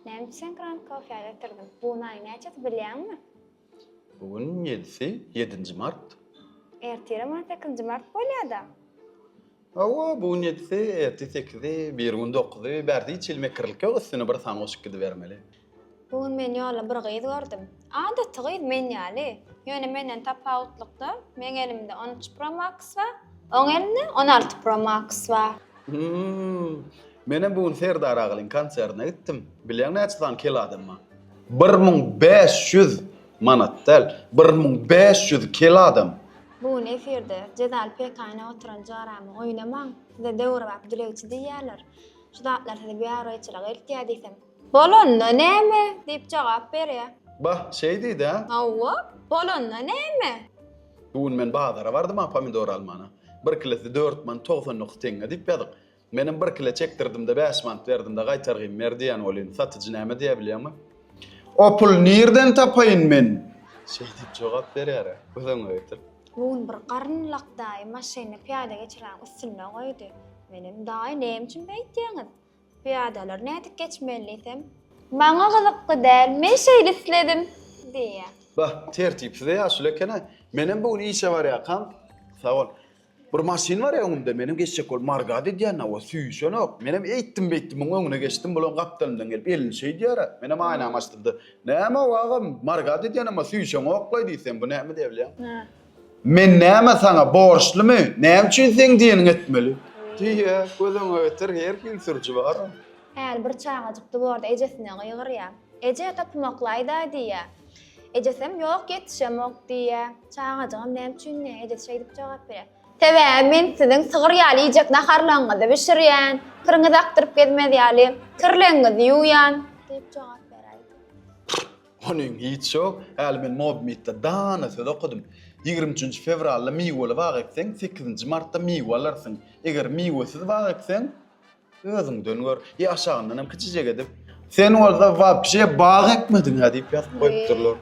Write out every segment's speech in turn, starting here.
Näme üçin Grand Coffee-a getirdim? Bu gün aýyň näçesi bilýäňmi? Bu gün ýedisi, ýedinji mart. Ertire maý sekizinji mart bolýa-da. Hawa, bu gün ýedisi, ertir sekizi, biri gün dokuzy, bärde hiç hili mekirlik ýok, üstüne bir san goşup gidibermeli. Bu gün men ýolda bir gyz gördüm. Adaty gyz, men ýaly. Ýöne menden tapawutlykda, meň elimde on üç Pro Max bar, oň elinde on alty Pro Max bar. Menem bu gün Serdar agalyň konsertine gitdim. Bilýäň näçe sany kel adam bar? Bir müň bäş ýüz manat däl, bir müň bäş ýüz kel adam. Bu gün efirde Jezal pekaýyna oturan jaramy oýnamaň, size döwrebap dilegçi diýýärler. Şu zatlar size biabraýçylyk eltýär diýsem. Bolanda näme? diýip jogap berýär. Bah, şeýdid-ä. Hawa, bolanda näme? Bu gün men bazara bardym-a pomidor almana. Bir kilosy dört manat togsan dokuz teňňe diýip ýazyk. Menem bir kilo çekdirdim-de, bäş manat berdim-de, gaýtargyn ber diýen welin, satyjy näme diýer bilýäňmi? O puly nirden tapaýyn men? Şeý diýip jogap berýär-ä. Göz öňüňe getir. Bu gün bir garyn lak daýy maşynyny pyýada geçiräniň üstünde goýdy. Menem, Daýy, näme üçin beýtýäňiz? Pyýadalar nädip geçmeli diýsem. Maňa gyzykly däl, men şeýle isledim, diýýär. Bah, tertipsiz-e ýaşuly eken-ä. Menem bu gün işe barýarkam, sag bol. Bir maşyn barýa öňümde, menem geçjek bolup margada edýän, hawa, süýşenok. Menem eýtdim-beýtdim muň öňüne geçdim, bulam gapdalymdan gelip elini şeýdýär-ä. Menem aýnamy açdym-da, Näme-ow, agam, margada edýän, emma süýşeňok-laý diýsem, bu näme diýebilýäň? Men näme saňa borçlymy, näme üçin seň diýeniňi etmeli? Diýýä, gözüňe getir, her hil sürüji bar-a. Häli bir çagajyk duwarda ejesine gygyrýa. Eje, topumaklaýda-aý diýýä. Ejesem, ýok, ýetişemok diýýä. Çagajygam näme üçin diýýä, ejesi şeýdip jogap berýä. Sebäbi men siziň sygyr ýaly iýjek naharlaryňyzy bişirýän, kiriňizi akdyryp gezmez ýaly kirlegiňizi ýuwýan, diýip jogap beräýdi. Onyň hiç ýok, häli men Mobmytda dana söz okadym. Ýigrimi üçünji fewralda miweli bag ekseň, sekizinji martda miwe alarsyň. Eger miwesiz bag ekseň, özüňden gör, ýa aşagyndan hem kiçijek edip. Sen bolsa wapşe bag ekmediň-ä diýip ýazyp goýupdyrlar.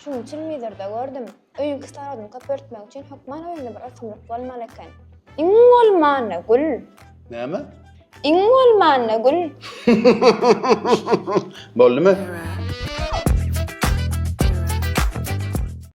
Şunuň üçinmidir-de, gördüm. Öýüň kislorodyny köpeltmek üçin hökman öýüňde bir ösümlik bolmaly eken. Iň bolmanda gül. Näme? Iň bolmanda gül. Boldumy?